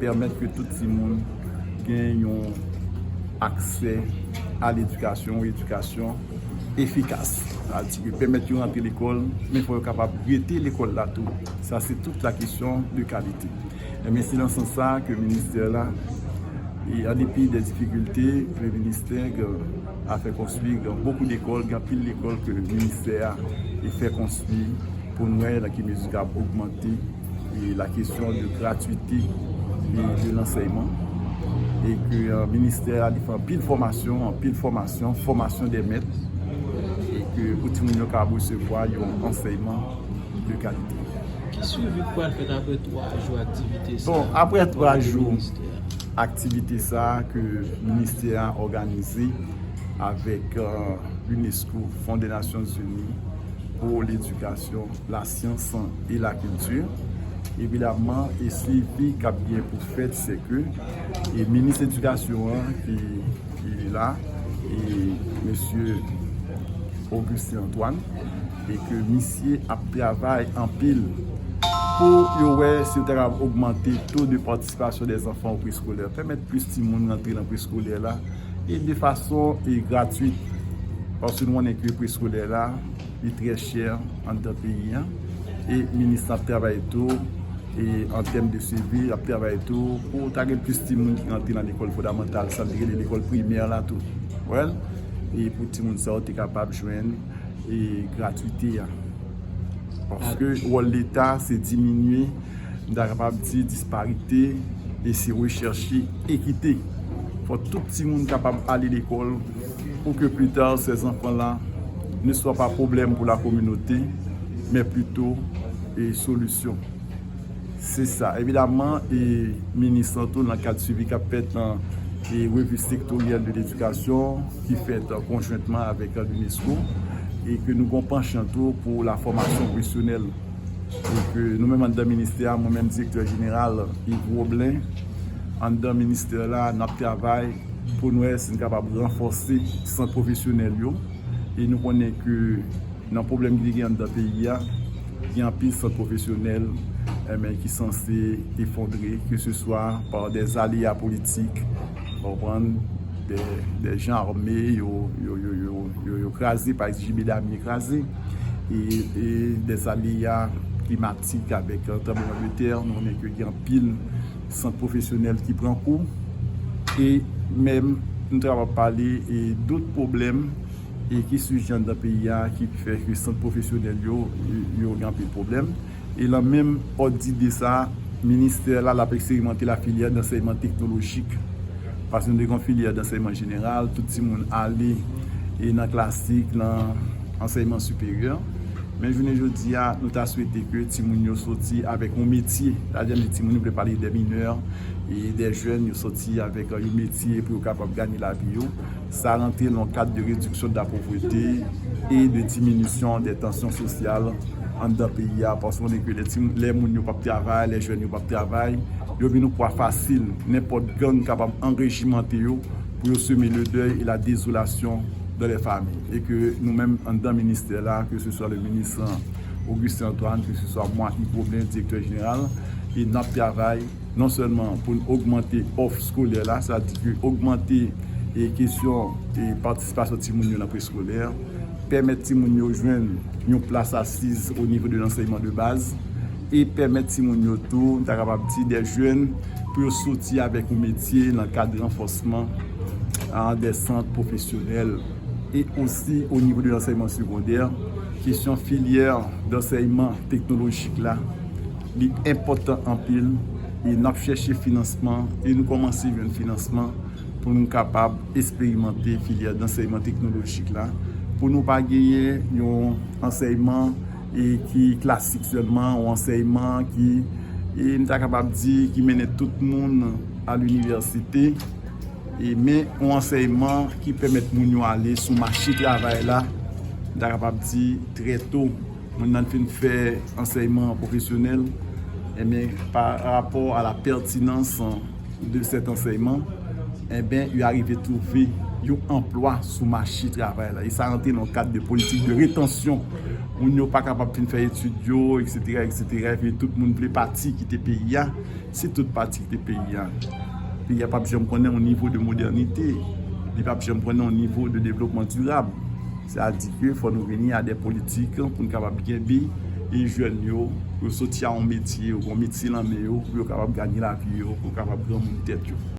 Pèmèt ke tout timoun gen yon aksè a ledikasyon, yon edikasyon efikas. Sa vle di ke pèmèt yo rantre lekòl, men fò yo kapab rete lekòl la tou. Sa se tout la kesyon de kalite. Enben, se nan sans sa a ke ministè la, an depi de difikilte ke ministè a fè konstwi gen bokou lekòl, gen anpil lekòl ke ministè a fè konstwi pou nou wè nan ki mezi kab ogmante. e la kesyon de gratuite de lansèyman e ke ministè a li fè anpil fòmasyon, anpil fòmasyon, fòmasyon de mèt e ke pou timoun yo ka resevwa yon ansèyman de kalite. Ki swivi ki pral fèt apre 3 jou aktivite sa? Bon, apre 3 jou aktivite sa ke ministè a òganize avèk l'UNESCO, Fon de Nasyon Zini pou l'Edikasyon, la. Science son et la culture evidemment e suivi kap gen pou fèt se ke e minis edikasyon an ki li la e mesye Augustin Antoine e ke misye ap travay anpil pou yo wè si yo ta kab ogmante to de patisipasyon de zanfan ou preskolè pèmèt plis ti moun rantre nan preskolè la e de fason e gratuit paske nou konnen ke preskolè la li trè chè anndan peyi an e minis lan ap travay tou e an tèm de sivi ap travay tou pou ta gen plis timoun ki rantre nan lekòl fondamantal sa vle di lekòl primè la tou wèl e pou timoun sa yo te kapab jwenn e gratwite a paske wòl leta se diminye m ta kapab di disparite e se rechèche ekite pou tout timoun kapab ale lekòl Pou ke plita sè zanfan la ne swa pa pwoblèm pou la kominote, men plito e solisyon. Se sa. Evidaman, e minis lan tou nan kad swivi kap fèt nan e revi sektoryèl de ledikasyon ki fèt konjwentman avèk Lunesco e ke nou gon panchan tou pou la fòmasyon pwofesyonèl e ke nou menm anndan ministè a, mwen menm direktè jeneral Yves Roblin anndan ministè la nap travay. pou nou wè si nou kapab ranfòse sant pwofesyonèl yo e nou konnen ke nan pwoblèm ki te gen anndan peyi a gen anpil sant pwofesyonèl enben ki sanse efondre ke se swa pa dè zaleya politik ou konprann dè jan arme yo kraze pa egzije medam yo kraze e dè zaleya klimatik avèk tranbleman de tè nou konnen ke gen anpil sant pwofesyonèl ki pran kou e menm nou ta kapab pale dot pwoblèm e ki siji anndan peyi a ki fè ke sant pwofesyonèl yo yo gen anpil pwoblèm e lan menm òd dide sa ministè la lap eksperimante la filyè dansèyman teknolojik paske nou te gen yon filyè dansèyman jeneral tout timoun ale e nan klasik lan. ansèyman siperyè. Men jounen jodi a, nou ta swete ke timoun yo soti avèk yon metye. Sa vle di timoun yo vle pale de minè, de jèn yo soti avèk yon metye pou yo kapab ganye lavi yo. Sa rantre nan yon kad de rediksyon de la povrete e de diminisyon de tansyon sosyal anndan peyi a. Paske nou konnen ke lè moun yo pa p travay, lè jèn yo pa p travay, yo vin yon pwa fasil. Nenpòt gang kapab anrejimante yo pou yo seme ledèy e ladezolasyon. dans les familles et que nou menm anndan ministè la que ce soit le ministre Augustin Antoine que ce soit moi Yvo Blain directeur général et nap travay non seulement pou nou ogmante òf skolè la sa di ke ogmante e kesyon e patisipasyon timoun yo nan preskolè pèmèt timoun yo jwenn yon plas asiz au niveau de l'enseignement de base. e pèmèt timoun yo tou, m ta kapab di dè jèn, pou yo soti avèk yon metye nan kad ranfòsman an dè sant pwofesyonèl e osi o nivo de lansèyman segondè, kesyon filyè dansèyman teknolojik la, li enpòtan anpil e n ap chèche finansman e nou kòmanse jwenn finansman pou nou kapab esperimante filyè dansèyman teknolojik la, pou nou pa genyen yon ansèyman. e ki klasik sèlman, yon ansèyman ki, e m ta kapab di, ki mennen tout moun a linivèsite, e men yon ansèyman ki pèmèt moun yo ale sou mache travay la, m ta kapab di, trè to, moun nan fin fè ansèyman pwofesyonèl, e men pa rapò a la pètinans. de cet ansèyman, enben yo arive twouve yon anplwa sou mache travay la e sa rantre nan kad de politik de retansyon. Moun yo pa kapab fin fè etid yo, eksetera, eksetera, epi tout moun vle pati kite peyi a. Si tout pati kite peyi a, peyi a pap janm konnen yon nivo de modènite, li pap janm konnen yon nivo de devlopman dirab. Sa di ke fò nou vini a de politik pou nou kapab kenbe jèn yo, pou yo soti a yon metye, yo gen yon metye nan men yo, pou yo kapab ganye lavi yo, pou yo kapab granmoun tèt yo.